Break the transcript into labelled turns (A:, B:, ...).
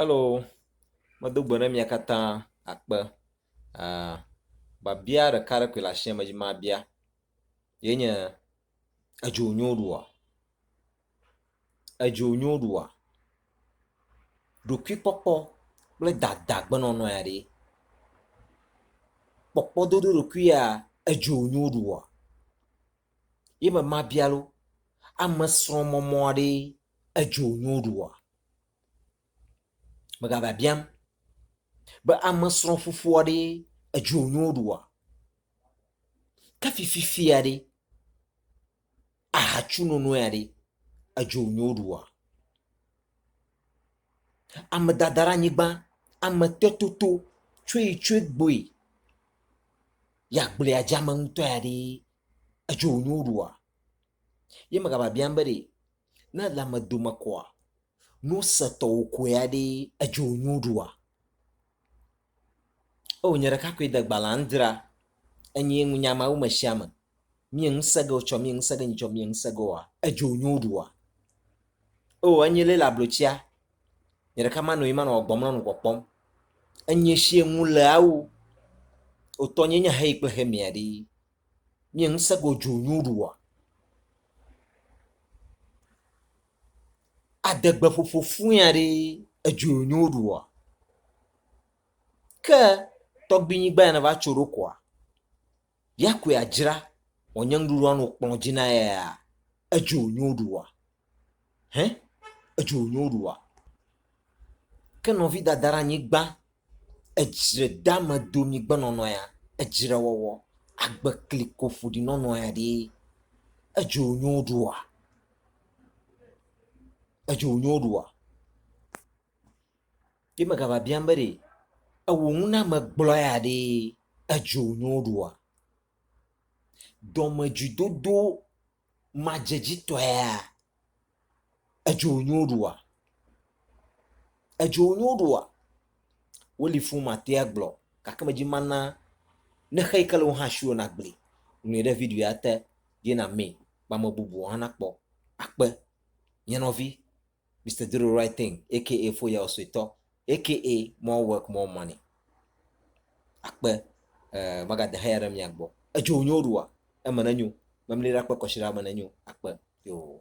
A: Alo medo gbe ne mia katã akpe. Uh, babia ɖeka ɖe koe le asia me dzi mabia. Ye nye edzo nyo ɖua? Edzo nyo ɖua? Ɖokuikpɔkpɔ kple dada gbenɔnɔ ya ɖe. Kpɔkpɔ dodo ɖokui ya edzo nyo ɖua? Ye me mabia lo. Ame srɔ̃mɔmɔ aɖee edzo nyo ɖoa? Megava biam be ame srɔ̃ fufua ɖe edzo nyo ɖoa? Ke fififia ɖe ahatsu nono ya ɖe edzo nyo ɖoa? Ame dada ɖe anyigba, ame te toto tsoe tsoe gboe ya gblea dzeame ŋutɔ ya ɖe edzo nyo ɖoa? Ye megava biam be ɖe Ne lãme dome kɔa, nu setɔwo koe aɖe edzo nyu ɖua. O nye ɖeka koe de gbalẽ andra enye ŋu nya mawo me sia me. Mie ŋusẽ ge wotsɔ mie ŋusẽ ge nyitsɔ mie ŋusẽ ge woa edzo nyu ɖua. O enye le le ablotsia nye ɖeka manɔ yi manɔ gbɔm lɔnu kpɔkpɔm. Enye sie ŋu le awu otɔ nye nya heyi kple hemia ɖi. Mie ŋusẽ go dzu nyu ɖu ɔ? Adegbe ƒoƒo fuia ɖi edzu nyu ɖu ɔ? Ke tɔgbi nyi gba ya ne va tso ɖo koa, ya koe a dzra wɔ nye ŋɖuɖu a no kplɔ dzi na ya ya edzu nyu ɖu ɔ? Hẽ? Edzu nyu ɖu ɔ? Ke nɔvi dada ɖe anyi gba. edzre dame domi gbenɔnɔ ya, edzre wɔwɔ, agbe kliko ƒoɖi nɔnɔ ya ɖee. Edzo nyo ɖoa? Edzo nyo ɖoa? Ye me gava biam be ɖe ewɔ nu na ame gblɔ ya ɖee edzo nyo ɖoa? Dɔmedzoedodo madzedzitɔea? Edzo nyo ɖoa? Edzo nyo ɖoa? Woli fũ mate agblɔ gake medzi mana ne xe yi ke le wo hã si o nagbli. Ŋlɔe ɖe video ya te ye namee be ame bubuwo hã nakpɔ akpe. Nye nɔvi, Mister Do the Right Thing aka Foyawo Suetɔ aka More Work More Money akpe eh, magade haya ɖe mia gbɔ. Edzo nyo ɖua? Eme nenyo. Memli ɖe akpe kɔsiɖa eme nenyo akpe. Yoo.